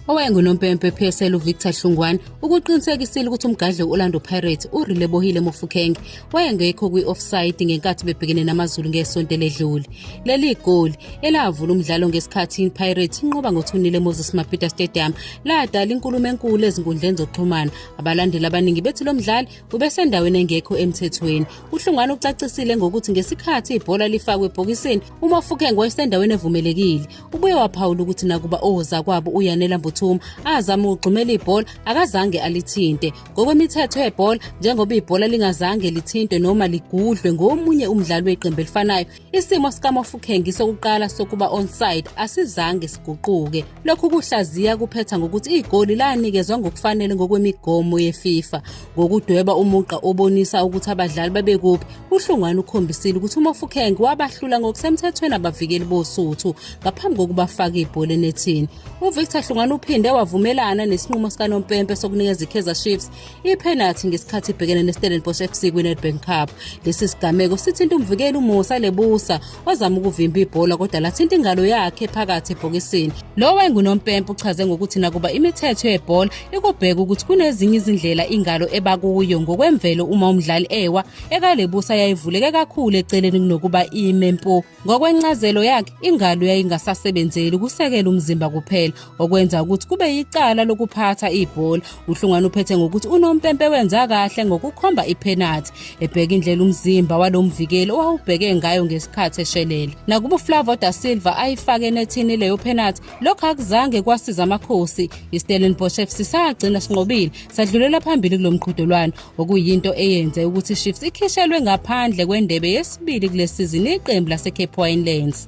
owayengunompempe PSL uVictor Hlungwane ukuqinisekisile ukuthi umgadli we-Orlando Pirates uRilebohile Mofokeng wayengekho kwi-offside ngenkathi bebhekene namaZulu ngesonto eledlule. Leli goli elavula umdlalo ngesikhathi iPirates inqoba ngothunile Moses Mabhida Stadium ladala inkulumo enkulu ezinkundleni zokuxhumana. Abalandeli abaningi bethi lo mdlali ubesendaweni engekho emthethweni. UHlungwane ucacisile ngokuthi ngesikhathi ibhola lifakwe ebhokisini UMofokeng wayesendaweni evumelekile. Ubuye waphawula ukuthi nakuba ozakwabo uYanela Mbuthuma azama ukugxumela ibhola akazange alithinte. Ngokwemithetho yebhola njengoba ibhola lingazange lithintwe noma ligudlwe ngomunye umdlali weqembu elifanayo, isimo sikaMofokeng sokuqala sokuba onside asizange siguquke. Lokhu kuhlaziya kuphetha ngokuthi igoli lanikezwa ngokufanele ngokwemigomo yeFIFA. ngokudweba umugqa obonisa ukuthi abadlali babekuphi uhlungwane ukhombisile ukuthi umofukhenge wabahlula ngokusemthethweni abavikeli bosuthu ngaphambi kokubafaka ibhola enethini uvictor hlungwane uphinde wavumelana nesinqumo sikanompempe sokunikeza ikaizer chiefs iphenathi ngesikhathi ibhekene nestellenbosch fc kwinedbank cup lesi sigameko sithinta umvikeli umusa lebusa wazama ukuvimba ibhola kodwa lathinta ingalo yakhe phakathi ebhokisini lo wayengunompempe uchaze ngokuthi nakuba imithetho yebhola ikubheka ukuthi kunezinye izindlela ingalo eba kuyo ngokwemvelo uma umdlali ewa ekalebusa yayivuleke kakhulu eceleni kunokuba ime mpo ngokwencazelo yakhe ingalo yayingasasebenzeli ukusekela umzimba kuphela okwenza ukuthi kube yicala lokuphatha ibhola uhlungwana uphethe ngokuthi unompempe wenza kahle ngokukhomba iphenathi ebheka indlela umzimba walomvikeli owawubheke ngayo ngesikhathi eshelele nakuba uflavo da silva ayifake enethini leyo phenathi lokho akuzange kwasiza amakhosi istellenbosch fc sagcina sinqobile sadlulela phambili kulo mqhudelwano okuyinto eyenze ukuthi chiefs ikhishelwe ngaphandle kwendebe yesibili kule sizini iqembu lasecape winelands